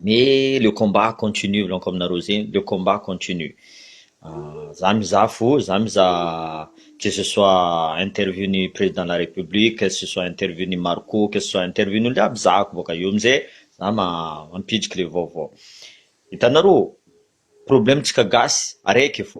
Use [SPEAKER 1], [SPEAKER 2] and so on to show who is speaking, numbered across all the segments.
[SPEAKER 1] Mais le combat continue milaonko aminareo zegny le combat continue za mizaha fo za mizaha que ce soit interview ny président de la république que ce soit interview ny Marco que ce soit interview ny olo jiaby zahako boka eo amizay za mampidriky le vaovao itanareo problème tsika gasy araiky fô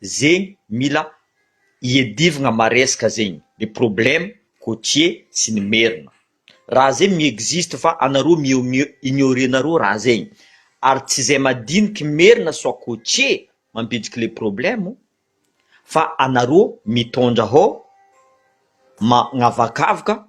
[SPEAKER 1] Zegny mila iadivagna maresaka zegny le problème côtier sy ny merina raha zegny mi-existe fa anareo mi-ignorer nareo raha zegny ary tsy zay madiniky merina soit côtier mampidiky le problème fa anareo mitondra hao magnavakavaka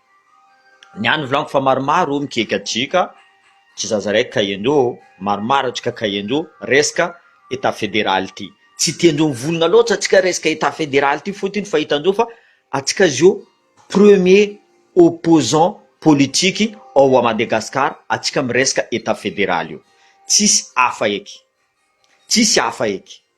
[SPEAKER 1] Ny ahy no volagno fa maromaro o mikiky aty ka, tsy zaza raiky ka endo ô, maromaro antsika ka endo resaka Etat federal ity. Tsy tendro mivolagna loatra antsika resaka Etat federal ity fotony fa hitan-dreo fa antsika zio premier opposant politique ao à Madagascar antsika miresaka Etat federal io. Tsisy hafa eky. Tsisy hafa eky.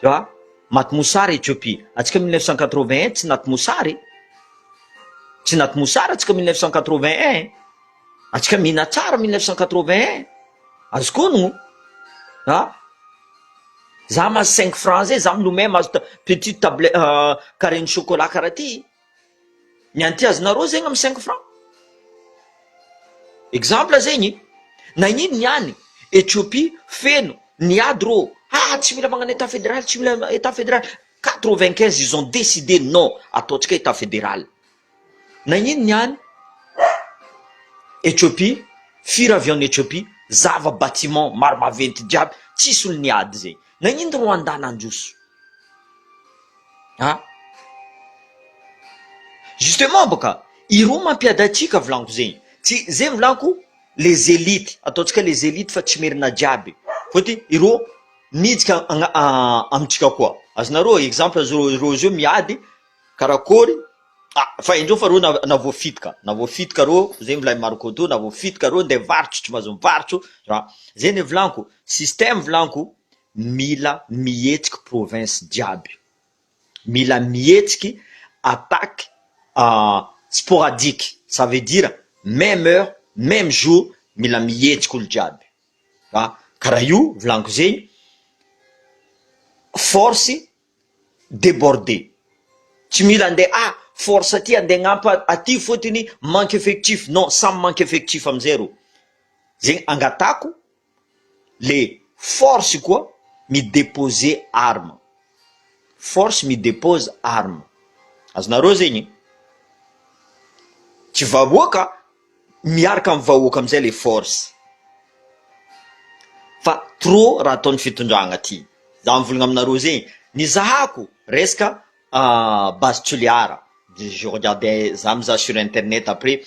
[SPEAKER 1] tu vois maty mosary Ethiopie antsika mille neuf cent quatre-vingt un tsy naty mosary tsy naty mosary antsika mille neuf cent quatre-vingt un antsika mihina tsara mille neuf cent quatre-vingt un azoko onogno a za mahazo cinq francs zay za milomay mahazo ta- petite table euh, carré ny chocolat karaha ty ny antiazonareo zegny am cinq franc exemple zegny nagnino ny any Ethiopie feno ny ady rô haa tsy mila magnano etat federal tsy mila etat federal quatre vingt quinze ils ont decide non ataontsika etat federal nagnino ny any Ethiopie fir avy any Ethiopie zava batiment maro maventy jiaby tsisy olo ny ady zegny Nagnino ro andà nandroso ah? Justement bôka ireo mampiady antsika volanko zegny, tsy zegny volanko les élites, ataontsika les élites fa tsy merina jiaby fôty ireo mijika amintsika koa, azonareo exemple zao ireo zao miady karakôry Ah fa indreo fa reo na voafidy ka, na voafidy ka reo, zay milay Marco toa na voafidy ka reo ndeha mivarotro tsy mahazo mivarotro ra, zay ne volanko, système volanko mila mihetsiky province jiaby, mila mihetsiky attaque sporadique ça veut dire meme heure, meme jour mila mihetsiky olo jiaby ra, ka ra io volanko zegny force débordé tsy mila ande ah force aty ande agnamp aty fotony manque effectif non samy manque effectif amizay ro zegny angatahako le force koa mi dépose arme force mi dépose arme azonareo zegny tsy vahoaka Miaraka amin'ny vahoaka amin'izay le force. Fa trop raha ataon'ny fitondragna ty. Za mivolagna aminareo ze nizahako resaka base Toliara. Je regarde za mizaha sur internet après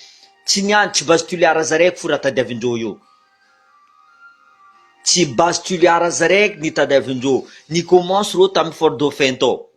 [SPEAKER 1] tsy ny any tsy base Toliara zareko fo raha tadiavindreo io. Tsy base Toliara zareko ny tadiavindreo. Ni commence reo tamin'ny fort dauphin tao.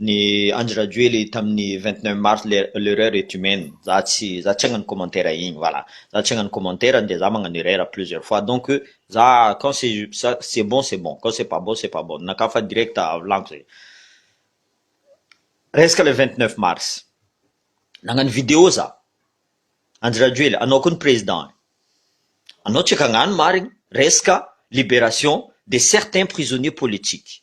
[SPEAKER 1] Ny Andry Rajoely tamin'ny vingt neuf mars l'erreur est humaine za tsy za tsy hagnano commentaire igny voilà za tsy hagnano commentaire nde za magnano erreur plusieurs fois donc za quand c'est ça c'est bon c'est bon quand c'est pas bon c'est pas bon naka fa direct volaniko zay resaka le vingt neuf mars nagnano video za Andry Rajoely anao koa ny président anao tsy hagnano marigny resaka libération de certains prisonniers politiques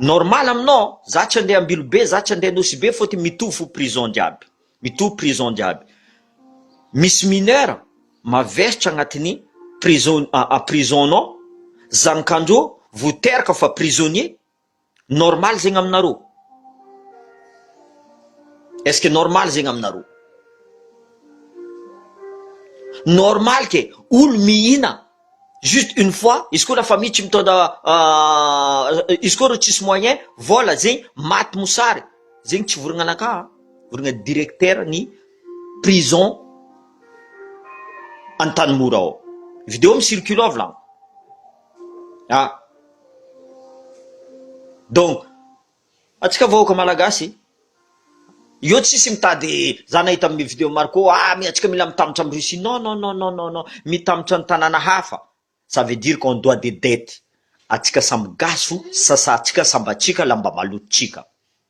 [SPEAKER 1] Normal aminao za tsy andeha Ambilobe za tsy andeha Anosibe fotony mitovy fo prison jiaby mitovy prison jiaby misy mineur mavestra agnatin'ny prison prison nao zany ka ndro voteraka fa prisonnier Normal zegny aminareo? Est-ce que normal zegny aminareo? Normal ke olo mihina juste une fois, izy koa la famille tsy mitondra izy koa reo tsisy moyen, vola zegny maty mosary, zegny tsy vorogna anakah an, vorogna directeur ny prison Antanimora ao. Video mi-circule ao vilagno. Ah! Donc, antsika vahoaka malagasy, io tsisy mitady za nahita amin'ny video Marco ah mi antsika mila mitamotra amin'i Russie non non non non non non mitamotra ny tanàna hafa ça veut dire qu'on doit des dettes antsika samy gasy sasa antsika sambatsika lamba malotontsika.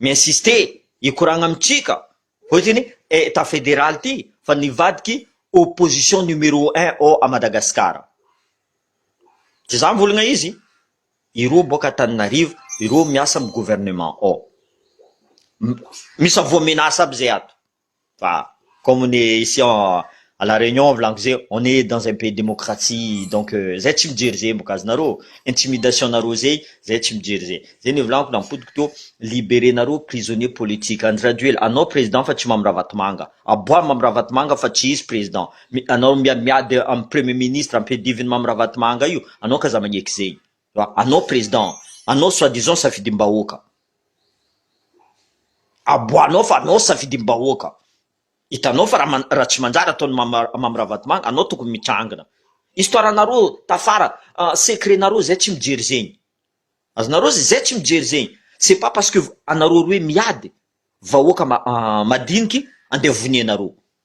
[SPEAKER 1] mi-insister hikoragna amintsika ohatrany etat federal ty fa nivadiky opposition numero un ao à Madagascar de za mivolagna izy ireo boaka Antananarivo ireo miasa am gouvernement ao misa voa menace aby zay ato. Fa comme ny ici à la réunion volagniky zay on est dans un pays démocratie donc zay tsy mijery zay mbok azonareo intimidation nareo zay zay tsy mijery zay zay ny volagniky nampodiko teo libéré nareo prisonnier politique Andry Rajoel anao président fa tsy Mamy Ravatomanga aboaha Mamy Ravatomanga fa tsy izy président anao miady miady am premier ministre ampidiviny Mamy Ravatomanga io anao ka aza magneky zegny. Anao président, anao soit disant safidimbahoaka, aboahanao fa anao safidimbahoaka, hitanao fa raha tsy manjary ataon'i Mamy Ravatomanga, anao tokony mitrangina. Histoire-nareo tafara, secret-nareo zay tsy mijery zegny. Azonareo zay, zay tsy mijery zegny. C'est pas parce que anareo roe miady, vahoaka madiniky andeha voneanareo.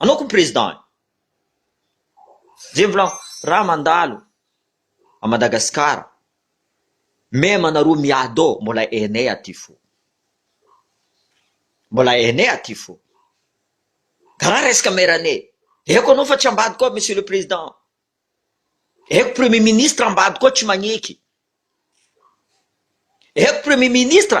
[SPEAKER 1] Anao koa président e! Zay mbola raha mandalo à Madagascar même anareo miado mbola hainay aty fo. Mbola hainay aty fo. Ka raha resaka mairanay aiko anao fa tsy ambadiko ao monsieur le président. Aiko premier ministre ambadiko ao tsy magneky. Aiko premier ministre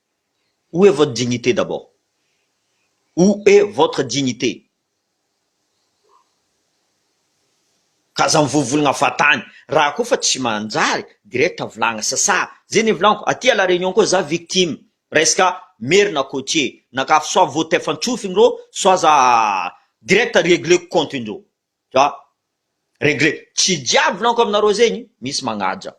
[SPEAKER 1] Où est votre dignité d'abord? Où est votre dignité? Ka aza mivovologna fatany raha koa fa tsy manjary direct avolagna sasa ze nivolaniko aty à la réunion koa za victime resaka merina côtier nakafy soit voatefan-tsofiny reo soit aza direct regleko compte ndreo Dra. Regret, tsy jiaby volaniko aminareo zegny, misy magnaja.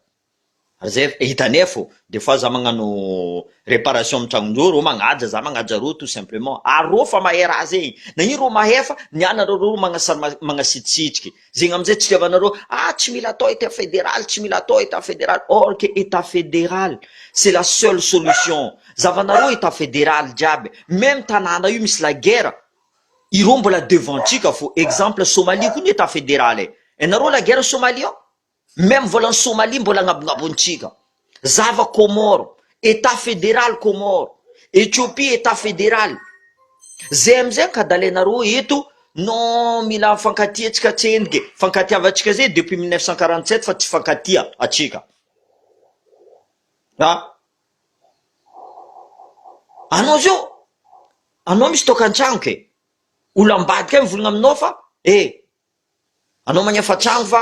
[SPEAKER 1] Ary zay efa hitanay fô, des fois za magnano réparation amin'ny tragnon'ireo, reo magnaja, za magnaja reo tout simplement. Ary reo fa mahay raha zegny, na ino reo mahay fa ny ana reo reo magnasama magnasitrisitriky. Zegny amizay tsy itiavanareo, ah tsy mila atao état fédéral, tsy mila atao état fédéral. Or que état fédéral, c'est la seule solution. Zavanareo état fédéral jiaby, même tanàna io misy la guerre, Ireo mbola devant ntsika fô exemple Somalie koa ny etat fédéral e! Enareo la guerre Somalie ao? Meme volan'i Somalie mbola agnabongabontsika! Zava Comore, etat fédéral Comore, Ethiopie etat fédéral! Zay amizay ankadalainareo eto non mila mifankatia tsika tsendriky e! Fankatiavantsika zay depuis mille neuf cent quarante sept fa tsy mifankatia atsika! Anao zao, anao misy toaka an-trano ke! Olona ambadika any mivolagna aminao fa eh! Anao magnefa trano fa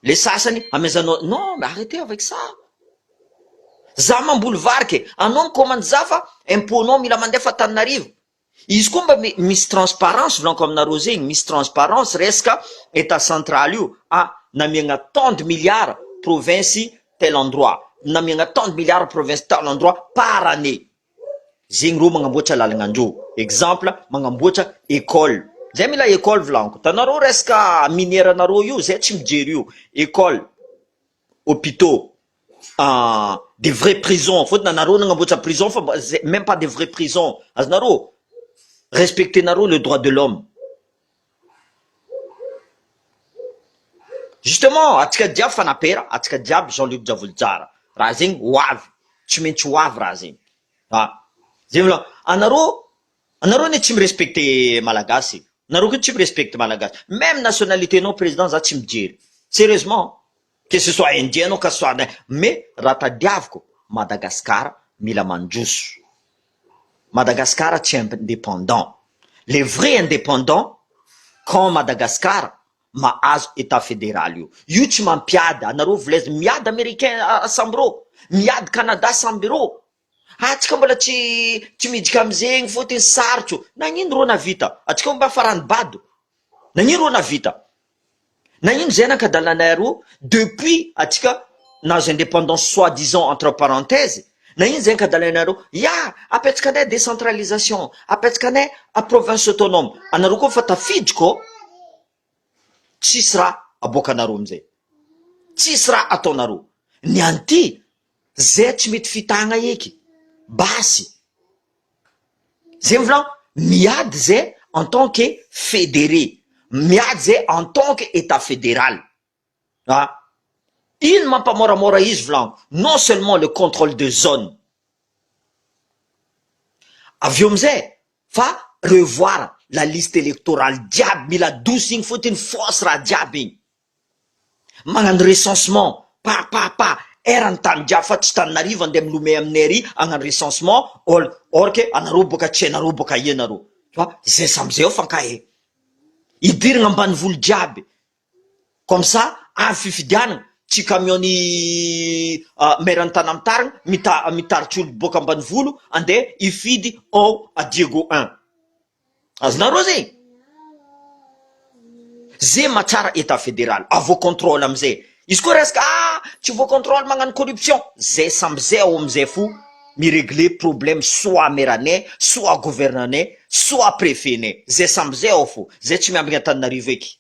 [SPEAKER 1] le sasany hamezanao, non mais arretez avec ça! Za mamboly vary ke! Anao mi-commande za fa impot-nao mila mandefa Antananarivo, Izy koa mba misy transparence volanko aminareo zegny misy transparence resaka etat central io a namiagna tant de milliards province tel endroit namiagna tant de milliards province tel endroit par année zegny reo magnamboatra lalagnandreo exemple magnamboatra ecole zay mila ecole volanko hitanareo resaka minière nareo io zay tsy mijery io ecole hopitaux des vrais prisons foana nareo nanamboatra prison fa meme pas des vrais prison azonareo respecter nareo le droit de l'homme justement atsika jiaby fanapera atsika jiaby jean luc javolijara raha zegny ho avy tsy maintsy ho avy raha zegny a zay vla anareo Anareo anie tsy mi respecte malagasy e! Nareo koa tsy mi respecte malagasy! Meme nationalite nao président za tsy mijery! Sérieusement! Que ce soit indien anao ka ce soit na mais raha tadiaviko Madagascar mila mandroso! Madagascar tsy indépendant! Le vrai indépendant quand Madagascar mahazo état fédéral io! Io tsy mampiady anareo volaizina miady Américain sambirô! Miady Canada sambirô! Atsika mbola tsy tsy midika amzegny fotiny sarotro nagnino rô navita atsika omba farany bado nagnino rô navita nagnino zay nankadalanay arô depuis atsika nahazo independance soit disant entre parenthèse nagnino zay ankadalainarô ya apetraka anay decentralisation apetraka anay province autonome anareo koa fa tafiditra ô. tsisy raha aboakanareo amzay tsisy raha ataonareo ny an'ity zay tsy mety fitahagna eky basy zay mivolagna miady zay en tant que federe miady zay en tant que etat federale Ah! Iny mampamoramora izy vlango non seulement le controle de zone avy eo amizay fa revoir la liste electorale jiaby mila adosy igny fotiny fausse raha jiaby igny magnano recensement pa pa pa er ny tany jiaby fa tsy tananarivo andeha milome aminy ery agnano recensement ol or ke anareo boka tsy hainareo boka aia nareo fa zay samy zay eo fa ankahy e! hidirigna ambanivolo jiaby Comme ça avy fifidianana tsy camion ny maire ny tana mitarigny mita mitaritry olo boka ambanivolo andeha hifidy ao à Diego un azonareo zay ze mahatsara etat federal avo controle amizay izy koa resaka ah tsy vo controle magnano corruption zay samby zay ao amizay fo miregle problème soit maire ne soit gouverneur ne soit prefet ne zay samby zay ao fo zay tsy miambigny antananarivo eky.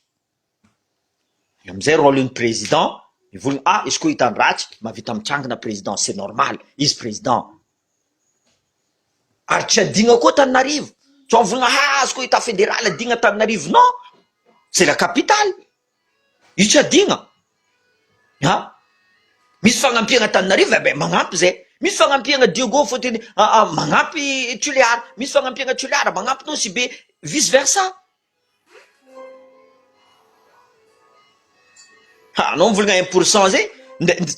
[SPEAKER 1] Amizay role ny president mivolona ah izy koa hitany ratsy mavita mitsangana president c'est normal izy president ary tsy adigna koa Tananarivo tsy avolona ha izy koa etat federal adigna Tananarivo non c'est la capitale io tsy adigna a misy fagnampiagna Tananarivo eh be magnampy zay misy fagnampiagna Diego fotony ah ah magnampy Toliara misy fagnampiagna Toliara magnampy Nosy Be vice versa Anao mivolagna un pour cent zay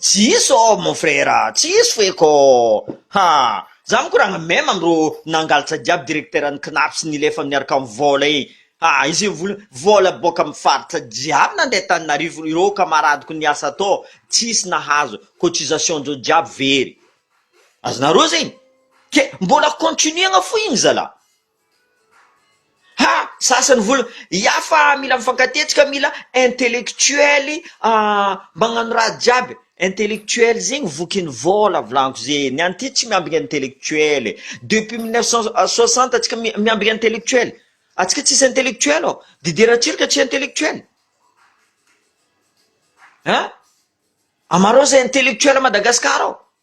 [SPEAKER 1] tsy hisy ô mon frère tsy hisy feky ô ha za manko ranga même am rô nangalatra jiaby directeur ny cnaps nilefa miaraka am vôla e ha izy mivola vôla boaka am faritra jiaby nande taninarivo irô camaradiko niasa tao tsy hisy nahazo cotisation ndreo jiaby very azonareo zegny ke mbola continuer-na fo igny zalah. Ha! Sasa ny vola ya fa mila mifankatetika mila intellectuel magnano raha jiaby intellectuel zegny vokin'ny vola volagno zegny any ty tsy miambigny intellectuel e, depuis mille neuf cent soixante antsika miambigny intellectuel antsika tsisy intellectuel ô, Didier Ratsiraka tsy intellectuel an! Amarao zay intellectuel Madagasikara ao.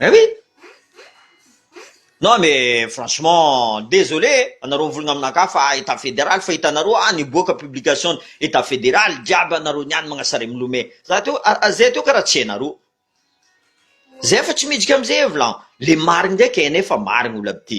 [SPEAKER 1] Eh oui! Non mais franchement désolé anareo mivolagna aminakahy fa état fédéral fa hitanareo ah niboaka publication ny état fédéral jiaby anareo niany magnasare milome za teo ah zay teo karaha tsy hainareo zay fa tsy midika amzay vlan le marigny ndraiky hainay fa marigny olabty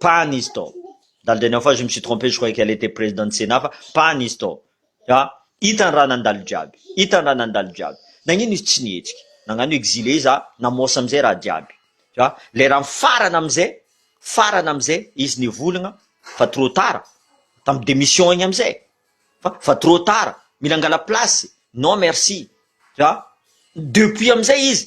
[SPEAKER 1] pas un instant ndalo dia ny en face je me suis trompe je croyais qu'elle etait présidente sénat fa pas un instant ah hitany raha nandalo jiaby hitany raha nandalo jiaby nagnino izy tsy nihetsika nagnano exilé izy ah namosa amizay raha jiaby ah lerany farany amizay farany amizay izy nivolagna fa trop tard tam démission igny amizay fa fa trop tard mila angala place non merci ah depuis amizay izy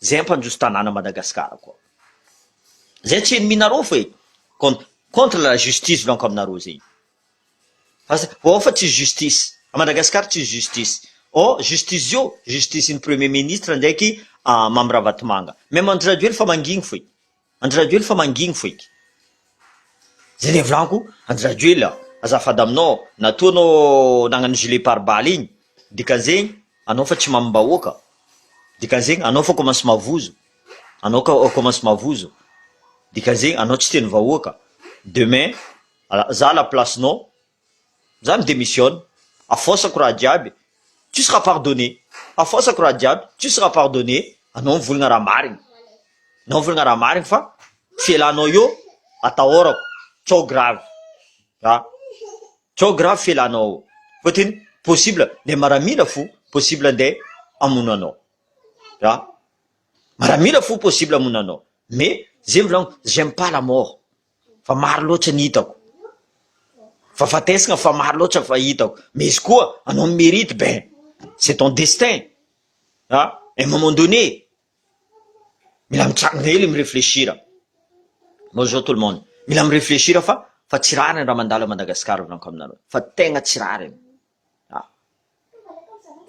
[SPEAKER 1] Zay mpandroso tanàna Madagascar koa zay tsy enneminareo fa e contre la justice lanko aminareo zegny fa oh fa tsisy justice a Madagascar tsisy justice oh justice zio justice ny premier ministre ndraiky Mamy Ravatomanga même andry rajoely fa mangigny fa e. Andry Rajoely fa mangigny fo eky zay le volako Andry Rajoely a! azafady aminao natoa anao nagnano gilet pare balle igny dikan'zegny anao fa tsy mamimbahoaka dikan'zegny anao fa commence mavozo anao ka commence mavozo dikan'zegny anao tsy tian'ny vahoaka demain za à la place-nao za mi-demissionne, afaosako raha jiaby, tu seras pardonne, afaosako raha jiaby, tu seras pardonne, anao mivolagna raha marigny, anao mivolagna raha marigny fa fialanao io atahorako, trop grave, a trop grave fialanao io, fôtiny possible nde maramila fo, possible nde hamono anao, a maramila fo possible hamono anao, mais ze mivolagna j'aime pas la mort. fa maro loatra ny hitako fa fatesina fa maro loatra fa hitako mais izy koa anao ny mérite ben c'est ton destin a un moment donné mila mitrangana hely mi-réfléchir bonjour tout le monde mila mi-réfléchir fa fa tsy rariny raha mandalo Madagascar volaniko aminareo fa tegna tsy rariny a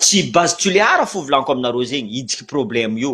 [SPEAKER 1] tsy base tulear fo volaniko aminareo zegny hijiky problème io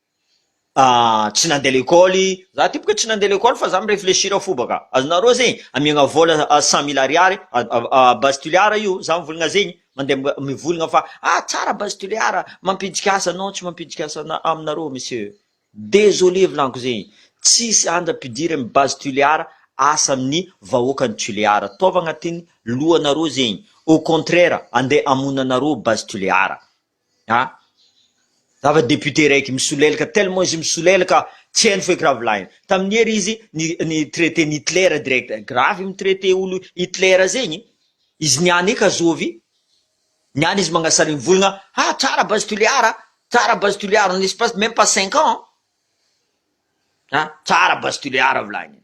[SPEAKER 1] tsy nandeha lekôly, za ty boka tsy nandeha lekôly fa za mi-reflechir fo baka, azonareo zegny, amiagna vôla cent mille ariary a base tulear io za mivolagna zegny, mandeha mivolagna fa ah tsara base tulear a, mampiditry asa non tsy mampiditry asa ana- aminareo monsieur, désolé volaniko zegny, tsisy anja ampidiry amin'ny base tulear asa amin'ny vahoaka ny tulear, ataovy agnatin'ny lohanareo zegny, au contraire andeha hamono anareo base tulear. Ah! Zava député raiky misolelaka tellement izy misolelaka tsy hainy feky ravilainy tamin'ny hery izy ny ny traiter ny Hitler direct gravy i mitraiter olo Hitler zegny izy niany eka zovy niany izy magnasarigny volagna ha tsara base Toliara a tsara base Toliara en espace de même pas cinq ans an ah tsara base Toliara volagniny.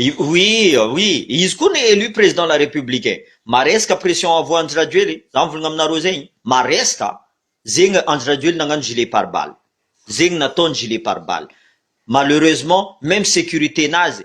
[SPEAKER 1] Oui oui izy koa no élu président la république e! maresaka pression avo Andry Rajoely e! za mivolagna aminareo zay e! maresaka zegny Andry Rajoely nagnano gilet pare balle zegny nataony gilet pare balle malheureusement même sécurité nazy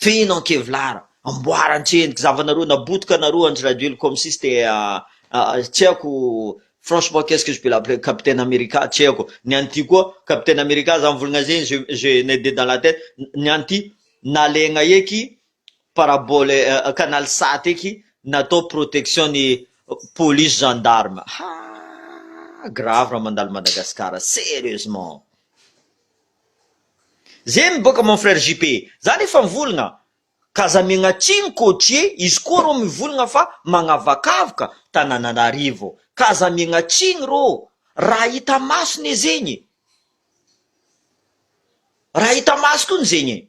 [SPEAKER 1] Feno an kevlar, amboara an-tsendriky, zavanareo nabotika nareo andry rajoely comme si c'était tsy haiko franchement qu'est-ce que je peux l'appeler capitaine America tsy haiko ny an'ity koa capitaine America zany volagna zay je je n'ai de dans la tête ny an'ity nalegna eky parabole canal sat eky natao protection ny police gendarme haa grave raha mandalo Madagascar serieusement. Zay ny boka mon frère JP. Zany efa mivolagna ka aza miagna tsiny cotier izy koa rô mivolagna fa magnavakavoka tanananarivo ka aza miagna tsiny rô raha hita maso ne zegny e raha hita maso kony zegny e.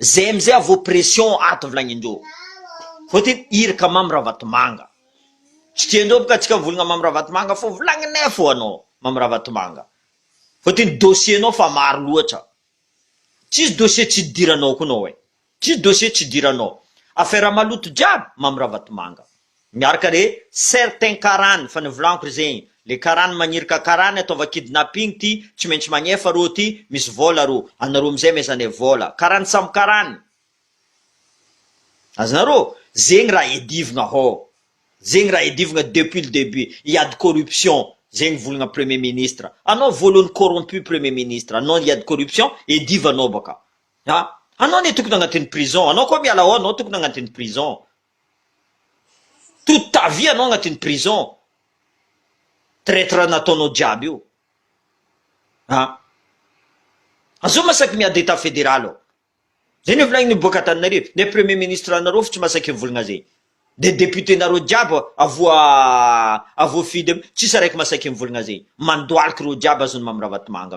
[SPEAKER 1] Zay amizay avo pression ato volagnindreo fa ty irka mamy ravatomanga tsy tiandreo boka atsika mivolagna mamy ravatomanga fô volagninay fô anao mamy ravatomanga fa ty ny dossier nao fa maro loatra tsisy dossier tsy hidiranao koa nao e tsisy dossier tsy hidiranao affaire maloto jiaby mamy ravatomanga Miaraka re certains karany fa nivolagniko ry zegny le karany magniry ka karany ataova kidnapping ty tsy maintsy magnefa rô ty misy vôla rô anarô amizay mezane vôla karany samy karany azonarô zegny raha edivogna hô zegny raha edivogna depuis le debut iady corruption zegny volagna premier ministre anao vôlony corrompu premier ministre anao iady corruption edivanao baka a anao anie tokony agnatiny prison anao koa miala ao anao tokony agnatiny prison Toute ta vie anao agnatin'ny prison traitre nataonao jiaby io a! Azao masaky miady etat federal ao zay no volagniny miboaka Antananarivo le premier ministre anareo fo tsy masaky mivolagna zay de député nareo jiaby avoa avoa fidy tsisy araiky masaky mivolagna zay mandohalika reo jiaby azony Mamy Ravatomanga.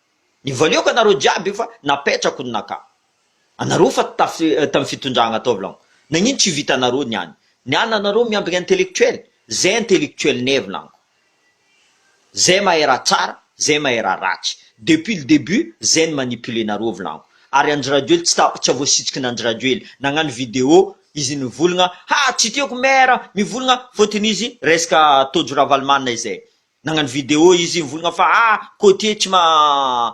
[SPEAKER 1] Ny valio ka nareo jiaby io fa napetrako ny naka anareo fa tam fitondragna ataovy lagno nagnino tsy vitanareo ny any ny any anareo miambigny intellectuel zay intellectuel neve lagno zay mahay raha tsara zay mahay raha ratsy depuis le debut zay ny manipule nareo vy lagno ary andry rajoely tsy ta tsy voasitsiky nandry rajoely nagnano video izy nivolagna ha tsy tiako maire mivolagna fotony izy resaka tojo ravalomanana izay Nagnano vidéo izy nivolagna fa ah côtier tsy ma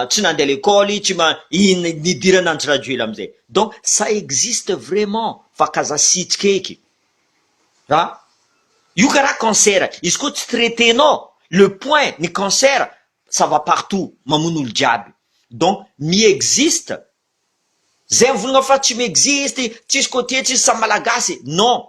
[SPEAKER 1] tsy nandeha lekôly tsy ma ino nidirana antsy rajoel amizay donc ça existe vraiment fa kazasitsika eky ra io kara cancer izy koa tsy traiter nao le point ny cancer ça va partout mamono olo jiaby donc mi existe zay mivolagna fa tsy mi existe tsisy côtier tsisy samy malagasy non.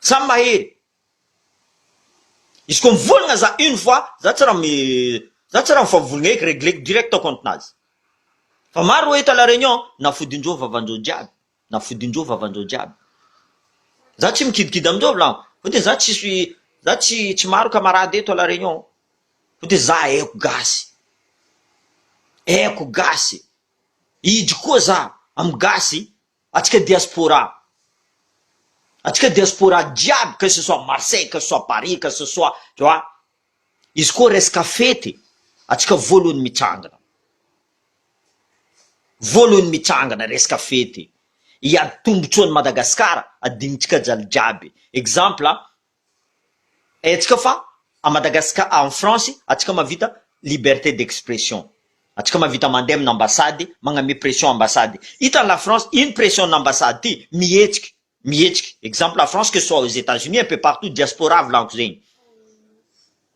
[SPEAKER 1] Samy mahery. Izy ko mivolagna za une fois za tsy raha mi za tsy raha mifavolagna eky regleko direct ao compte nazy. Fa maro oe eto à la réunion na fodin-dreo vavan-dreo jiaby na fodin-dreo vavan-dreo jiaby. Za tsy mikidikidy amin-dreo v'là fotony za tsisy za tsy tsy maro camarade eto à la réunion fotony za aiko gasy aiko gasy hidry koa za amy gasy Atsika diaspora, atsika diaspora jiaby que ce soit Marseille, que ce soit Paris, que ce soit tu vois, izy koa resaka fety atsika voalohany mitsangana, voalohany mitsangana resaka fety hiady tombotsoan'i Madagascar adinontsika jaly jiaby, exemple Haintsika fa à Madagascar any France atsika mahavita liberté d'expression. Atsika mahavita mandeha amina ambassade magname pression ambassade. Hita any la France ino pression na ambassade ty? Mihetsika, mihetsika. Exemple la France que ce soit aux Etats-Unis un peu partout diaspora volagniko zegny.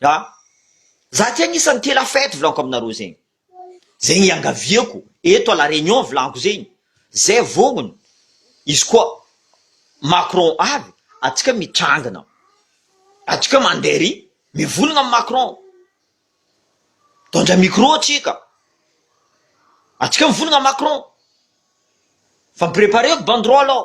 [SPEAKER 1] An! Za ty agnisany tela fety volaniko aminareo zegny. Zegny iangaviako eto à la réunion volaniko zegny, zay vognogno izy koa Macron avy atsika mitrangana, atsika mandeha ery mivolagna am Macron, mitondra micro atsika, atsika mivolagna am Macron, fa mi-preparer-ko banderole ao,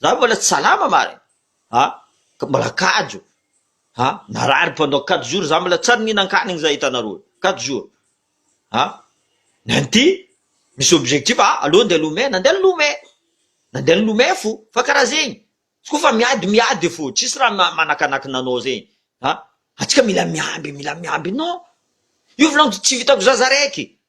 [SPEAKER 1] Za mbola tsy salama marina a! ka mbola kajo a! narary pendant quatre jours za mbola tsy ary nihinan-kanigny za hitanareo io, quatre jours a! nenty misy objectif a! aleo andeha lomey, nandeha nilomey, nandeha nilomey fo, fa karaha zegny, izy koa fa miady miady fo, tsisy raha ma- manakanakina anao zegny a! atsika mila miamby mila miamby non! io volagno tsy vitako za za raiky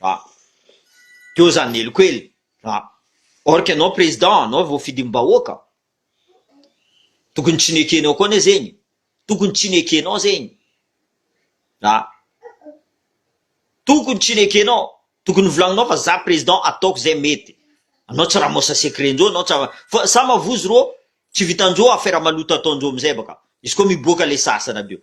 [SPEAKER 1] Ra. Teo zany ny heloka ely ra. Or que anao président anao voafidim bahoaka tokony tsy nekenao koa ne zegny tokony tsy nekenao zegny ra. Tokony tsy nekenao tokony volagninao fa za président ataoko zay mety anao tsy ramose secret njoo anao tsy fa sa mavozo rô tsy vitanjoo affaire maloto ataonjoo amizay baka izy koa miboaka le sasana aby eo.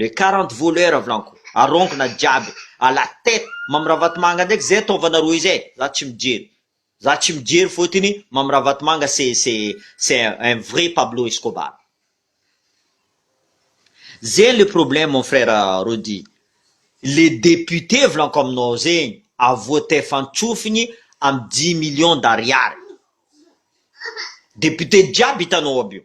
[SPEAKER 1] Le quarante voleur vlanko arongona jiaby à la tête Mamy Ravatomanga ndraiky zay ataovana rohy zay za tsy mijery za tsy mijery fotiny Mamy Ravatomanga c'est c'est c'est un vrai Pablo Escobar zegny le problème mon frère Rody le député vlanko aminao zegny avotefantsofigny amy dix millions d'ariary député jiaby hitanao aby io.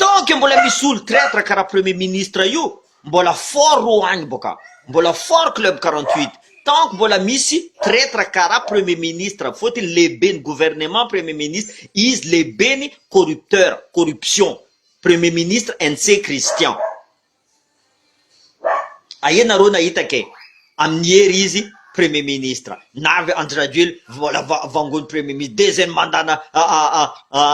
[SPEAKER 1] Tant que mbola misy olo traitre karaha premier ministre io mbola fort ro any boka mbola fort club quarante huit tant que mbola misy traitre karaha premier ministre fotony lehibe ny gouvernement premier ministre izy lehibe ny corrupteur corruption premier ministre NC Christian. Aia nareo nahita kay amin'ny hery izy premier ministre navy Andry Rajoely mbola vangon'ny premier ministre deuxième mandat na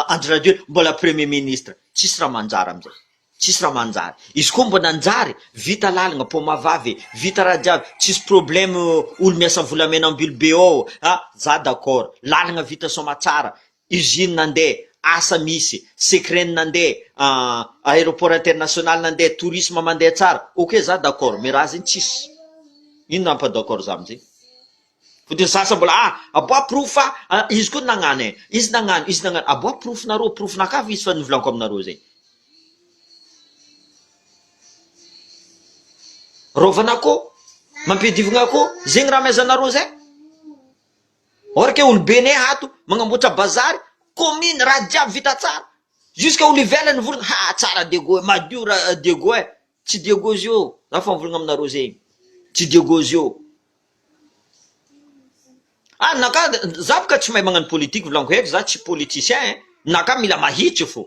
[SPEAKER 1] Andry Rajoely mbola premier ministre tsisy raha manjary amin'izay tsisy raha manjary izy koa mbola nanjary vita lalina paoma vavy e vita raha jiaby tsisy problème olo miasa volamena ambilo be ao a za d'accord lalina vita somatsara usine nandeha, asa misy, secret-ny nandeha, ah, aéroport international nandeha, tourisme mandeha tsara, ok za d'accord, mais raha zegny tsisy, ino raha ampa d'accord za amzay? Fotony ny sasany mbola ah, aboaha porofo fa ah, izy koa nagnano eh, izy nagnano, izy nagnano, aboaha porofonareo, porofonakà fa izy fa novolanko aminareo zay. Rovanakô, mampiadivigna akô, zegny raha amezanareo zay? Or ke olobe ne ato magnamboatra bazary commune raha jiaby vita tsara jusque olo ivelany vorona ha tsara Diego eh madio ra Diego eh tsy Diego zio za fa mivolagna aminareo zegny tsy Diego zio ah ninaka za boka tsy mahay magnano politique volagno heky za tsy politicien eh ninaka mila mahitsy fo.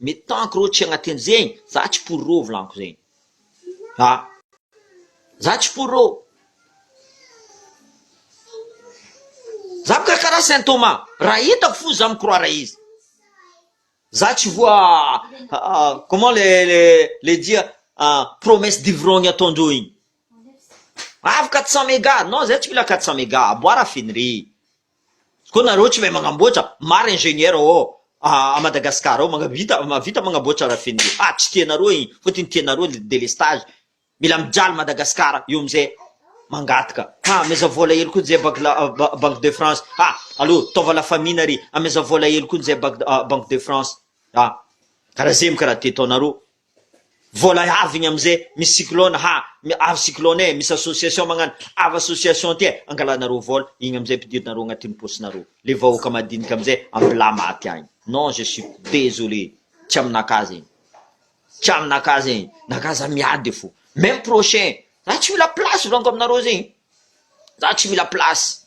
[SPEAKER 1] Mais tant que reo tsy agnatin zegny za tsy pour reo volaniko zegny a za tsy pour reo za mikarakara saint Thomas raha hitako fo za mi-croire izy za tsy voa comment le le le dia promesse d'ivrogny ataondreo igny avy quatre cent mega non zay tsy mila quatre cent mega aboara fenre Koa nareo tsy mahay magnamboatra, maro ingénieur ao à Madagascar ao mahavita mahavita magnamboatra raffinerie, ah tsy tianareo iny fa ty ny tianareo le délestage, mila mijaly Madagascar eo amizay mangataka, ah ameza vola hely koa njay bank la banque de France, ah allo taova la famille nary ameza vola hely koa njay bank banque de France, ah karaha zay mo karaha ty ataonareo. Vola avy ny amze misy cyclone ha mi avy cyclone e misy association magnano avy association ty e angalanareo vola igny amzay ampidirinareo agnatiny posinareo le vahoaka madinika amzay ambila maty agny non je suis désolé tsy aminakahy zegny tsy aminakahy zegny nakahy za miady fo meme prochain za tsy mila place volaniko aminareo zegny za tsy mila place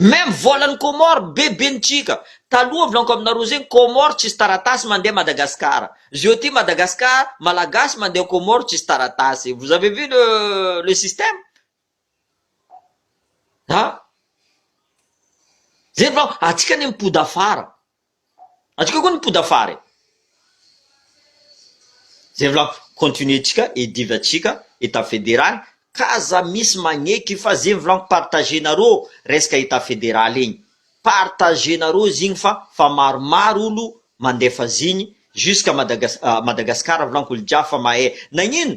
[SPEAKER 1] Même vola ny Comores be be ny Chika, taloha volanko aminareo zegny Comores tsisy taratasy mandeha Madagascar, zeo aty Madagascar Malagasy mandeha Comores tsisy taratasy, vous avez vu le le système? ah, zegny volanko, atsika anie mipody afara. Atsika koa ny poda fara e! Zay volako, continuer tsika e diva tsika etat federaly ka aza misy magneky fa zegny volagno partager nareo resaka etat federaly igny partager nareo zigny fa fa maromaro olo mandefa zigny jusqu'à Madagascar Madagascar volagno olo jiaby fa mahay nagnino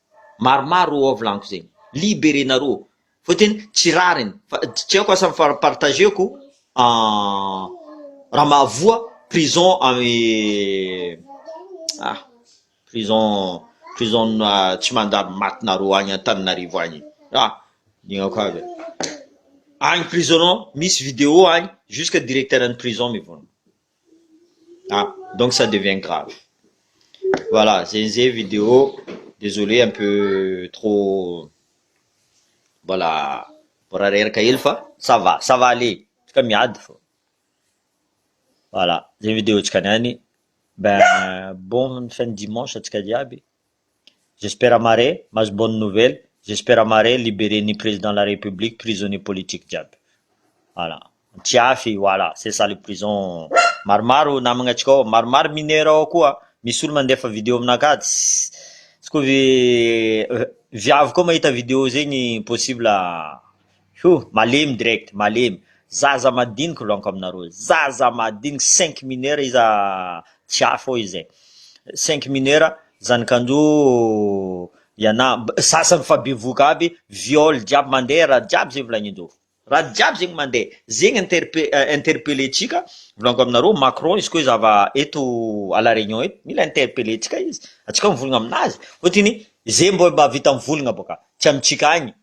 [SPEAKER 1] maromaro ao vlanko zegny libere nareo fa tena tsy rariny fa tsy aiko asa fa partageko raha mahavoa prison amy ah prison prison tsy mandalo maty nareo agny antananarivo agny ah lignako aby e agny prison misy video agny jusque directeur any prison mivonona ah donc ça devient grave voilà zenze vidéo désolé un peu trop mbola mbola reraka hely fa ça va ça va aller antsika miady fô voilà zay vidéo-tsika niany ben bonne fin de dimanche antsika jiaby. J'espère mare mahazo bonne nouvelle, j'espère mare libéré ny président la république prisonnier politique jiaby. Voilà. Antiafy voilà, c'est ça le prison. Maromaro namagna antsika ao, maromaro mineur ao koa, misy olo mandefa vidéo aminakahy tsy koa viavy koa mahita vidéo zegny possible Hoo! Malemy direct, malemy. Zaza madiniky lonko aminareo. Zaza madiniky cinq mineurs iza tsy hafa oe izay. Cinq mineurs zanakanjo iana sasany efa bevoka aby viol jiaby mandeha raha jiaby zay volagninjo. Raha jiaby zegny mandeha. Zegny interpe interpele tsika volagno aminareo Macron izy ko izy ava eto à la réunion eto mila interpele tsika izy atsika mivolagna aminazy fotony ze mba vita mivolagna boka tsy amitsika agny